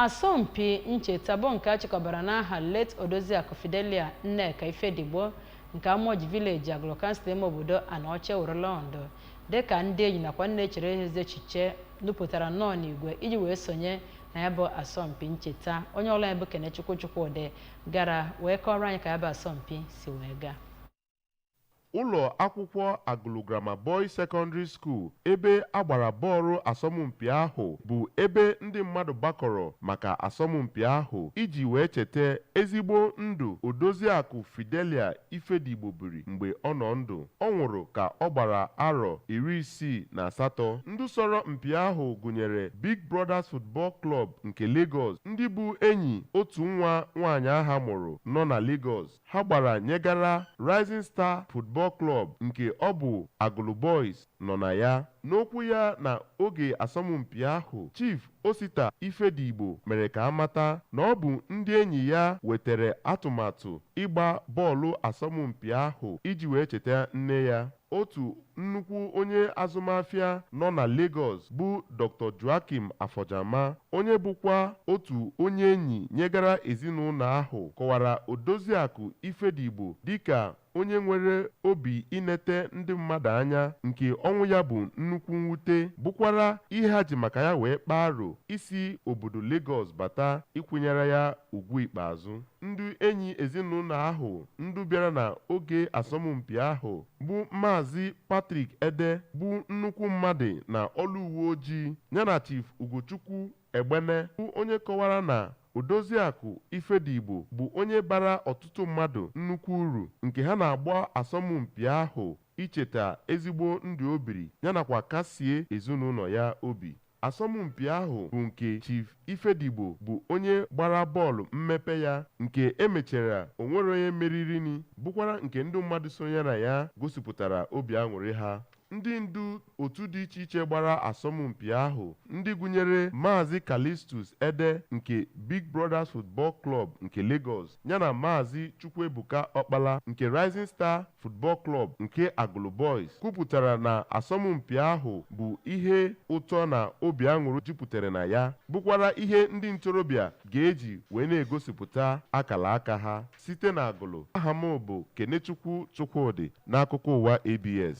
Asọmpi ncheta bụ nke a chịkọbara n'aha late Odoziakụ Fidelia Nneka Ifedigbo nke Amoji Village, Agụlụ Kansụl ime obodo Anaọcha ewerela ọnọdụ dịka ndị enyi nakwa ndị na-echere ha ezi echiche nupụtara nnọọ n'igwe iji wee sonye na ya bụ asọmpi ncheta. Onye ọlụ anyị bụ Kenechukwu Chukwudị gara wee kọọrọ anyị ka ya bụ asọmpi si wee gaa. ụlọ akwụkwọ Agụlụ Grammar Boys Secondary School ebe a gbara bọọlụ asọmpi ahụ bụ ebe ndị mmadụ gbakọrọ maka asọmpi ahụ iji wee cheta ezigbo ndụ Odoziakụ Fidelia Ifedigbo biri mgbe ọ nọ ndụ ọ nwụrụ ka ọ gbara arọ iri isii na asatọ ndị sọrọ mpi ahụ gụnyere Big Brothers Football Club nke Lagos ndị bụ enyi otu nwa nwaanyị ahụ mụrụ nọ na Lagos ha gbara nyegara Rising Star Football Club nke ọ bụ Agụlụ Boys nọ na ya. N'okwu ya na oge asọmpi ahụ, Chief Osita Ifedigbo mere ka a mata na ọ bụ ndị enyi ya wetere atụmatụ ịgba bọọlụ asọmpi ahụ iji wee cheta nne ya. Otu nnukwu onye azụmafịa nọ na Lagos bụ Doctor Joachim Afojama, onye bụkwa otu onye enyi nyegara ezinụlọ ahụ kọwara Odoziakụ Ifedigbo dịka onye nwere obi inete ndị mmadụ anya nke ọnwụ ya bụ nnukwu mwute bụkwara ihe ha ji maka ya wee kpaa aro isi obodo Lagos bata ịkwanyere ya ugwu ikpeazụ. Ndị enyi ezinụlọ ahụ ndị bịara na oge asọmpi ahụ bụ Maazị Patrick Ede bụ nnukwu mmadụ na ọlụ uwe ojii yana Chief Ugochukwu Egbene bụ onye kọwara na Odoziakụ Ifedigbo bụ onye bara ọtụtụ mmadụ nnukwu uru nke ha na-agba asọmpi ahụ icheta ezigbo ndụ o biri yanakwa kasie ezinụlọ ya obi. Asọmpi ahụ bụ nke Chief Ifedigbo bụ onye gbara bọọlụ mmepe ya nke emechara onwere onye meririni bụkwara nke ndị mmadụ sonyere na ya gosipụtara obi aṅụrị ha. Ndị ndu otu dị iche iche gbara asọmpi ahụ ndị gụnyere Maazị Callistus Ede nke Big Brothers Football Club nke Lagos, yana Maazị Chukwuebuka Ọkpala nke Rising Star Football Club nke Agụlụ Boys kwupụtara na asọmpi ahụ bụ ihe ụtọ na obi aṅụrị jupụtara na ya bụkwara ihe ndị ntorobịa ga-eji wee na-egosipụta akara aka ha site na Agụlụ aha m bụ Kenechukwu Chukwudị n'akụkọ ụwa ABS